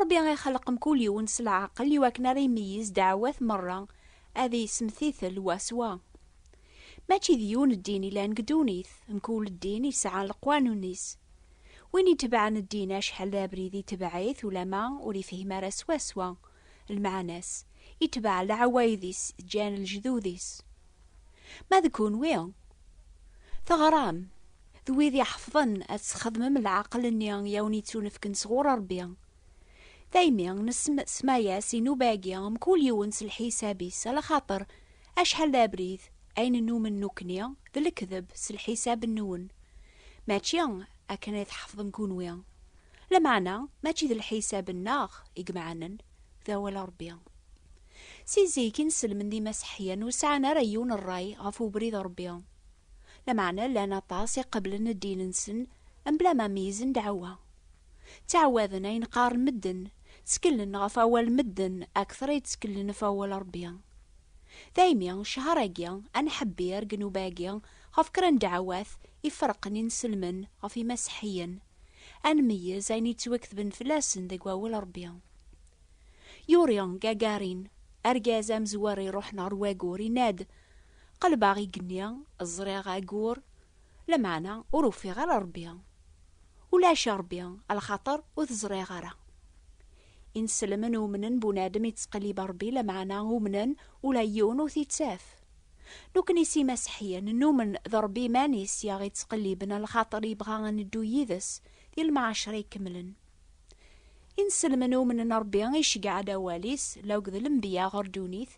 Ṛebbi ixelleq mkul yiwen s leɛqel i wakken ara imeyyez ddeɛwat meṛṛa, ad isemtitel wa s wa. Mačči d yiwen ddin i lan deg ddunit, mkul ddin isɛa leqwanun-is. Win itebɛen ddin acḥal d abrid itebɛ-it ulamma ur ifhim ara swaswa lmeɛna-s, itebɛ leɛwayed-is ǧǧan lejdud-is. Ma d kunwi, teɣram, d wid iḥefḍen ad tesxedmem leɛqel-nni i awen-yettunefken sɣur Rebbi. Daymi nessemma-as i nnuba-agi, mkul yiwen s lḥisab-is, ala xaṭer acḥal d abrid, ayen nnumen nukni, d lekdeb s lḥisab-nwen. Mačči akken i tḥefḍem kunwi. Lameɛna, mačči d lḥisab-nneɣ i yemɛanen, d awal Rebbi. Si zik i nesselmed imaseḥyan ur sɛan ara yiwen rray ɣef ubrid n Rebbi. Lameɛna llan aṭas i qeblen ddin-nsen mebla ma meyyzen ddeɛwa. Ttɛawaden ayen qqaren medden, tteklen ɣef awal n medden akteṛ i tteklen ɣef awal n Rebbi. Daymi, ccher-agi anḥebbir deg nnuba-agi ɣef kra n ddeɛwat iferqen i nselmen ɣef imaseḥiyen, ad nmeyyez ayen yettwaketben fell-asen deg Wawal n Rebbi. Yuri Gagarin, argaz amezwar iruḥen ɣer wagur, yenna-d, Qelbeɣ igenni, ẓriɣ agur, lameɛna ur ufiɣ ara Rebbi. Ulac a Rebbi, a lxaṭer ur t-ẓriɣ ara. Ineslmen umnen bunadem ittqellib Rebbi, lameɛna umnen ula yiwen ur t-ittaf. Nukni s imaseḥyen, numen d Rebbi iman-is i aɣ-ittqelliben a lxaṭer yebɣa a neddu yid-s di lemɛacer ikemlen. Inselmen umnen n Ṛebbi iceggeɛ-d awal-is la akked lenbiya ɣer ddunit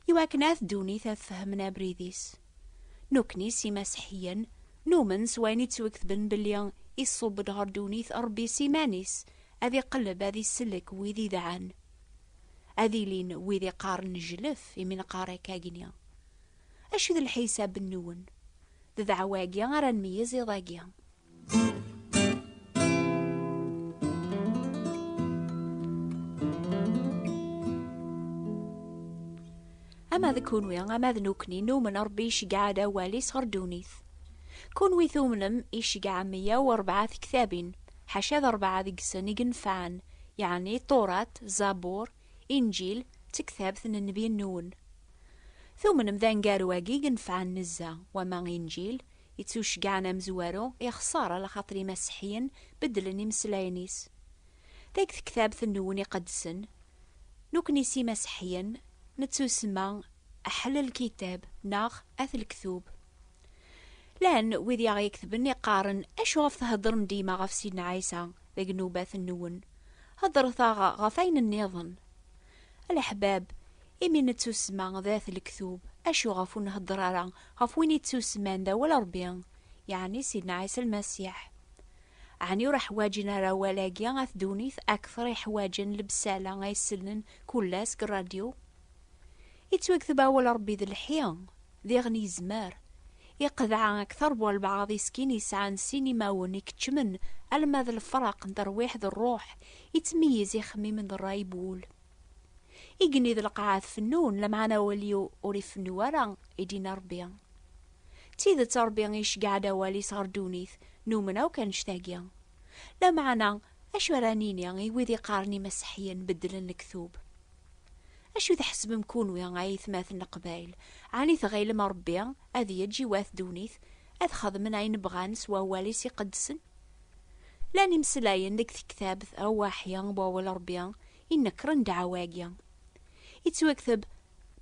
i wakken at ddunit ad fehmen abrid-is. Nukni s imaseḥiyen numen s wayen i ttweketben belli iṣub-d ɣer ddunit Ṛebbi s iman-is ad iqelleb ad isellek wid idɛan. Ad ilin wid iqqaren nejlef imi neqqar akkagni. Acu i d lḥisab-nwen? D ddeɛwa-agi ara nmeyyez iḍ-agi. ama d kunwi ama d nukni numen rebbi iceggeɛ-d awal-is ɣer ddunit kunwi tumnem iceggeɛ meyya u rebɛa tektabin ḥaca d rebɛa deg-sen i yenfɛen yeɛni ṭurat zabur inǧil d tektabt n nnbi-nwen tumnem d aneggaru-agi yenfɛen nezzeh wama inǧil Ittuceggɛen amezwaru ixṣer alaxaṭer imaseḥiyen beddlen imeslayen-is. Deg tektabt n Newwin Iqedsen, nekkni s imaseḥiyen nettusemma Ahl el-Kitab neɣ At el-Ktub. Llan wid i aɣ-iketben i qqaren acuɣef theddrem dima ɣef Sidna Ɛisa deg nnubat-nwen? Heddret-aɣ ɣef ayen nniḍen. A leḥbab, imi nettusma d at lektub, acu ɣef ur nhedder ara ɣef win yettusman d awal n Rebbi, yeɛni Sidna Ɛisa Lmasiḥ? Ɛni ur ḥwaǧen ara awal-agi at ddunit akteṛ i ḥwaǧen lebsala ay sellen kull ass deg ṛṛadyu? Yettwakteb awal n Rebbi d lḥi. Diɣen yezmer. Iqedɛa akteṛ bu albaɛaḍ iskin yesɛan sin imawen i keččmen alma d lefraq n terwiḥ d ṛṛuḥ, ittmeyyiz ixemmimen d ṛṛay bu wul. Igenni d lqaɛa tfennun, lameɛna awal-iw ur ifennu ara, i d-yenna Ṛebbi. D tidet Ṛebbi iceggeɛ-d awal-is ɣer ddunit, numen akk annect-agi. Lameɛna, acu ara nini i wid iqqaren Imaseḥyen beddlen lektub? Acu tḥesbem kunwi ay aytmaten n Leqbayel? Ɛni tɣilem Ṛebbi ad yeǧǧ i wat ddunit ad xedmen ayen bɣan s wawal-is iqedsen? Llan imeslayen deg tektabt Ṛewwaḥya n Wawal Ṛebbi inekṛen ddeɛwa-agi. Yettwakteb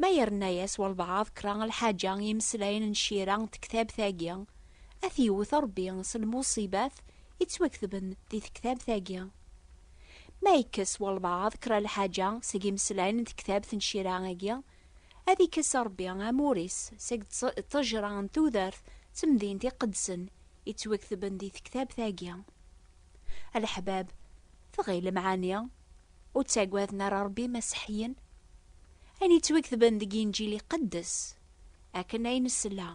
ma yerna-yas walbaɛḍ kra n lḥaǧa i yimeslayen n Cira n tektabt-agi, ad t-yewwet Ṛebbi s lmuṣibat yettwaktben di tektabt-agi. Ma yekkes walbaɛḍ kra lḥaǧa seg yimeslayen n tektabt n Cira-agi, ad ikkes Ṛebbi amur-is seg ṭṭejṛa n tudert d temdint iqedsen yettwaketben di tektabt-agi. A leḥbab, tɣilem ɛni ur ttagaden ara Ṛebbi Imasiḥiyen? Ayen yettwaketben deg Inǧil iqeddes, akken ay nesla,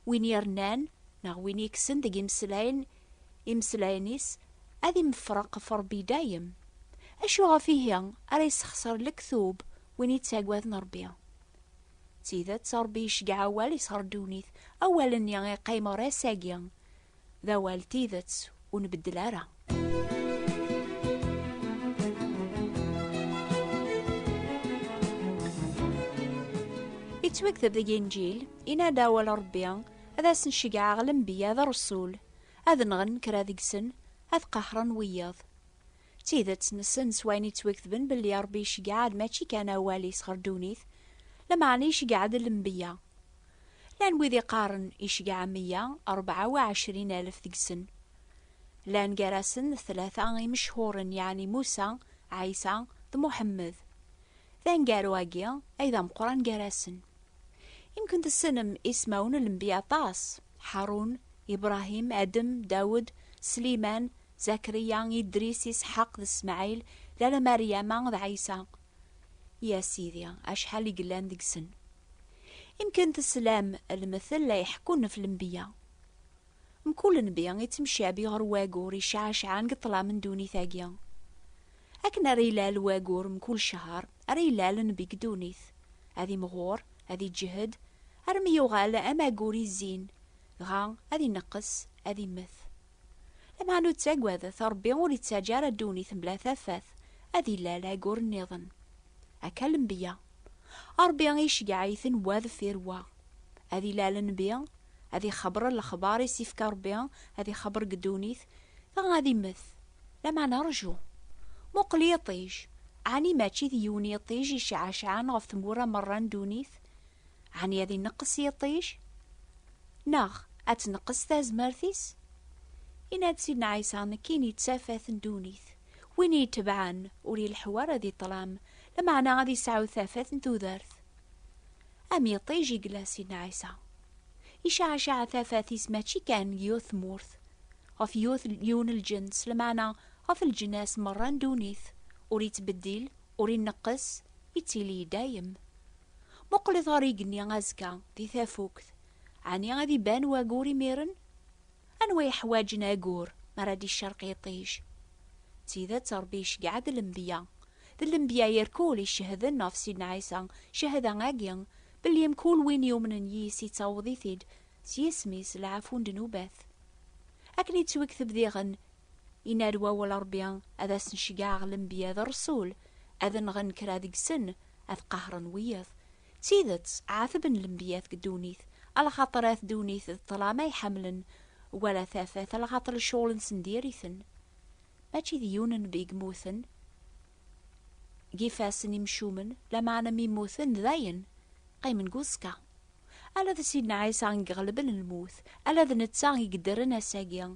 win yernan neɣ win yekksen deg yimeslayen Imeslayen-is ad imefreq ɣef Ṛebbi i dayem. Acu ɣef ihi ara yessexṣer lektub win yettaggaden Ṛebbi? D tidet, Ṛebbi iceggeɛ awal-is ɣer ddunit, awal-nni iqqim ɣer ass-agi. D awal n tidet, ur nbeddel ara. Yettwakteb deg Inǧil, yenna-d awal n Ṛebbi Ad asen-ceggɛeɣ lenbiya d ṛṛsul, ad nɣen kra deg-sen, ad qahren wiyaḍ. D tidet, nessen s wayen yettwaketben belli Ṛebbi iceggɛeḍ mačči kan awal-is ɣer ddunit, lameɛna iceggɛeḍ lenbiya. Llan wid iqqaren iceggɛeḍ meyya rebɛa u ɛecrin alef deg-sen. Llan gar-asen tlata imecḥuren yeɛni Musa, Ɛisa d Muḥemmed. D aneggaru-agi ay d ameqran gar-asen. Imkent tessnem ismawen n lenbiya aṭas, Ḥarun, Ibṛahim, Adem, Dawed, Sliman, Zakriya, Idris, Isḥaq d Smaɛil, lala Maryama d Ɛisa. I a Sidi, acḥal i yellan deg-sen! Imkent teslam lmettel la iḥekkun ɣef lenbiya. Mkul nnbi ittemcabi ɣer wagur icɛacɛan deg ṭṭlam n ddunit-agi. Akken ara ilal wagur mkul cehher, ara ilal nnbi deg ddunit, ad imɣur, ad iǧǧehed, armi yuɣal am agur izzin, dɣa ad ineqqes, ad immet. Lemhan ur ttagadet, Rebbi ur ittaǧǧa ara ddunit mebla tafat, ad ilal agur nniḍen. Akka lembiya. Rebbi iceggeɛ-iten wa deffir wa. Ad ilal Nnbi, ad ixebber lexbar i s-ifka Rebbi, ad ixebber deg ddunit, dɣa ad immet. Lameɛna rju! Muqel yiṭij! Ɛni mačči d yiwen yiṭij i ceɛceɛen ɣef tmura merra n ddunit? Ɛni ad ineqqes yiṭij? Neɣ ad tneqqes tazmert-is? Yenna-d Sidna Ɛisa, Nekkini d tafat n ddunit. Win i yi-itebɛen, ur ileḥḥu ara di ṭṭlam, lameɛna ad yesɛu tafat n tudert. Am iṭij i yella si Nɛisa. Icaɛcaɛ tafat-is mačči kan deg yiwet tmurt, ɣef yiwen lǧens, lmeɛna ɣef leǧnas merra n ddunit, ur ittbeddil, ur ineqqes, ittili i dayem. Muqlet ɣer yigenni azekka, di tafukt, ɛni ad iban wagur imiren? Anwa yeḥwaǧen agur mi ara d-icerq yiṭij? D tidet Ṛebbi iceggeɛ-d lembiya, D lenbya irkul i cehden ɣef Sidna Ɛisa, cehda agi, belli mkul win yumnen yis yettaweḍ-it-id s yisem-is lɛafu n ddnubat. Akken i ttwekteb diɣen, Yenna-d wawal Rebbi ad asen-ceggɛeɣ lenbya d rresul, ad nɣen kra deg-sen, ad qahren wiyaḍ. D tidet, ɛatben lenbiyat deg ddunit, alaxaṭer at ddunit d ṭṭlam ay ḥemmlen, wala tafat alaxaṭer lecɣel-nsen diri-ten. Mačči d yiwen n beg mmuten deg ifassen imcumen, lameɛna mi mmuten dayen qqimen deg uẓekka. Ala d Sidna Ɛisa i iɣelben lmut, ala d netta i yeddren ass-agi,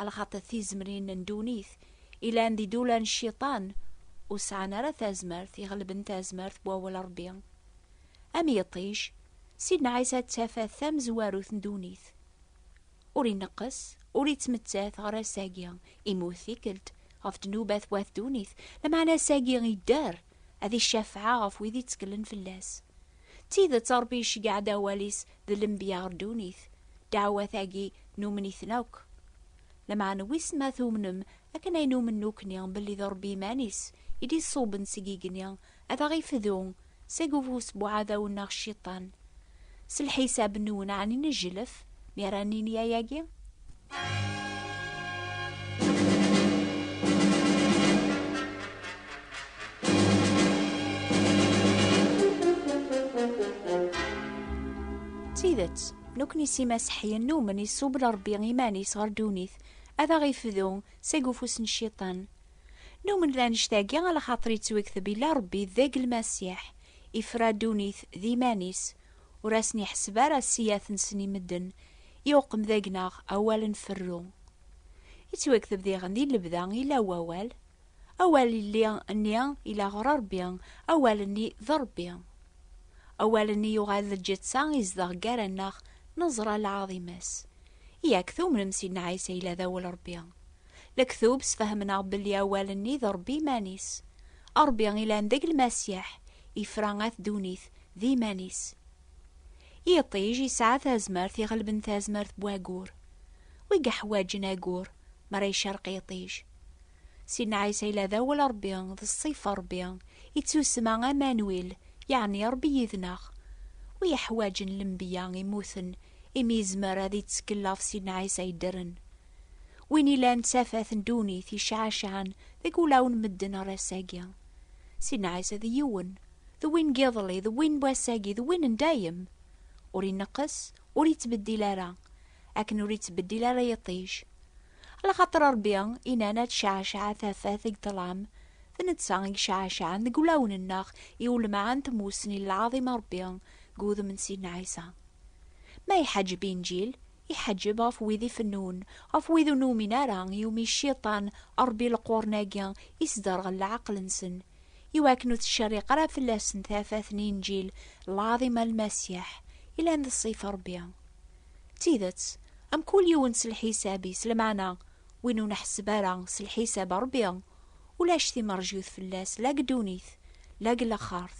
lxaṭer d tizemrin n ddunit ilan d idula n cciṭan ur sɛan ara tazmert iɣelben tazmert n wawal n Rebbi. Am yiṭij, Sidna Ɛisa d tafat tamezwarut n ddunit. Ur ineqqes, ur ittmettat ɣer ass-agi, Imu tikkelt, ɣef ddnubat wat ddunit, lameɛna ass-agi idder, ad icafeɛ ɣef wid itteklen fell-as. D tidet Ṛebbi iceggeɛ-d awal-is d lenbiya ɣer ddunit, ddeɛwat-agi numen-iten akk. Lameɛna wissen ma tumnem akken ay numen nekkni belli d Ṛebbi iman-is i d-iṣubben seg igenni Ad aɣ-ifdu seg ufus n uɛdaw-nneɣ Cciṭan. S lḥisab-nwen, ɛni nejlef mi ara nini ayagi? D tidet, nekkni s imaseḥyen numen iṣubb-d Ṛebbi iman-is ɣer ddunit, ad aɣ-ifdu seg ufus n Cciṭan. Numen d anect-agi ala xaṭer yettwekteb ila Rebbi deg Lmasiḥ, ifra ddunit d iman-is, ur asen-iḥesseb ara ssiyat-nsen i medden, iuqem deg-neɣ awal n ferru. Yettwekteb diɣen di lebda ila wawal, awal illi nni ila ɣer Rebbi, awal-nni d Rebbi. Awal-nni yuɣal d lǧeţţa izdeɣ gar-aneɣ, neẓra lɛaḍima-s. Yak tumnem Sidna Ɛisa ila d awal Rebbi? Lektub sfehmneɣ belli awal-nni d Rebbi iman-is. Rebbi ilan deg Lmasiḥ, ifra at ddunit d iman-is. Yiṭij yesɛa tazmert iɣelben tazmert n wagur. Wi yeḥwaǧen agur mi ara icerq yiṭij. Sidna Ɛisa yella d awal Rebbi, d ṣṣifa Rebbi, ittusma Amanwil, yeɛni Rebbi yid-neɣ. Wi yeḥwaǧen lembiya immuten imi yezmer ad ittekkel ɣef Sidna Ɛisa yeddren. Win ilan d tafat n ddunit yecɛacaɛen deg ulaw n medden ar ass-agi. Sidna Ɛisa d yiwen, d win n yiḍelli, d win n wass-agi, d win n dayem. Ur ineqqes, ur ittbeddil ara, akken ur ittbeddil ara yiṭij. Alaxaṭer Ṛebbi inan ad tecɛacaɛ tafat deg ṭṭlam, d netta i yecɛacaɛen deg ulawen-nneɣ i ulmeɛ n tmussni n lɛaḍima n Ṛebbi deg wudem n Sidna Ɛisa. Ma iḥaǧeb Inǧil, Iḥeǧǧeb ɣef wid ifennun, ɣef wid ur numin ara, iwumi Cciṭan, Ṛebbi leqwuṛen-agi, isderɣel leɛqel-nsen, iwakken ur tettcerriq ara fell-asen tafat n Inǧil lɛaḍima n Lmasiḥ, yellan d ṣṣif n Ṛebbi. D tidet, am kul yiwen s lḥisab-is, lameɛna win ur nḥesseb ara s lḥisab n Ṛebbi, ulac timerjut fell-as la deg ddunit, la deg laxert.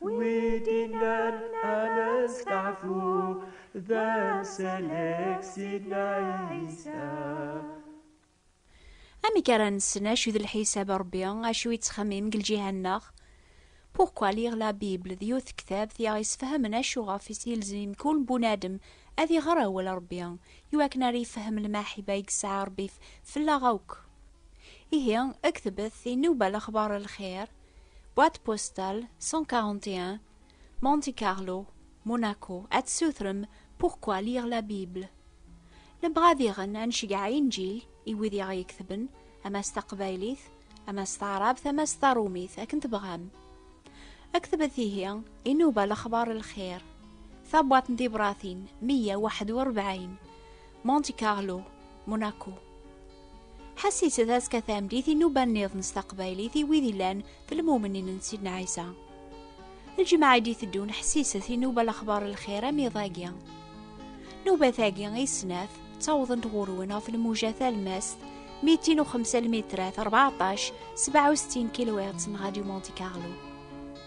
Widinan anestafu dan selek sidna Isa. Amek ara nessen acu d lḥisab a Rebbi, acu yettxemmim deg lǧiha-nneɣ? Pourquoi lire la Bible d yiwet tektabt i aɣ-yessefhamen acu ɣef i s-yelzem mkul bunadem ad iɣer awal a Rebbi, iwakken ara ifehhem lmaḥiba i yesɛa Rebbi fellaɣ akk. Ihi, ktebet, inuba lexbar n lxir, Boîte postale 141, Monte Carlo, Monaco, ad sutrem Pourquoi lire la Bible? Nebɣa ad iɣen ad nceggeɛ inǧil i wid i ɣ-yeketben, ama s taqbaylit, ama s taɛrabt, ama s taṛumit, akken tebɣam. Aktbet ihi inuba lexbar n lxir. Tabwaṭ n tibratin 141, Monte Carlo, Monaco. Ḥas i tedaz ka tamdit i nuba nniḍen s taqbaylit i wid ilan d lmumnin n Sidna Ɛisa. Lǧemɛa i d-iteddun ḥsiset i nuba lexbar lxir am iḍagi. Nubat-agi i snat ttawḍent ɣurwen ɣef lmuja talmast 205 lmitrat 14 67 kilwirt n Radio Monte Carlo.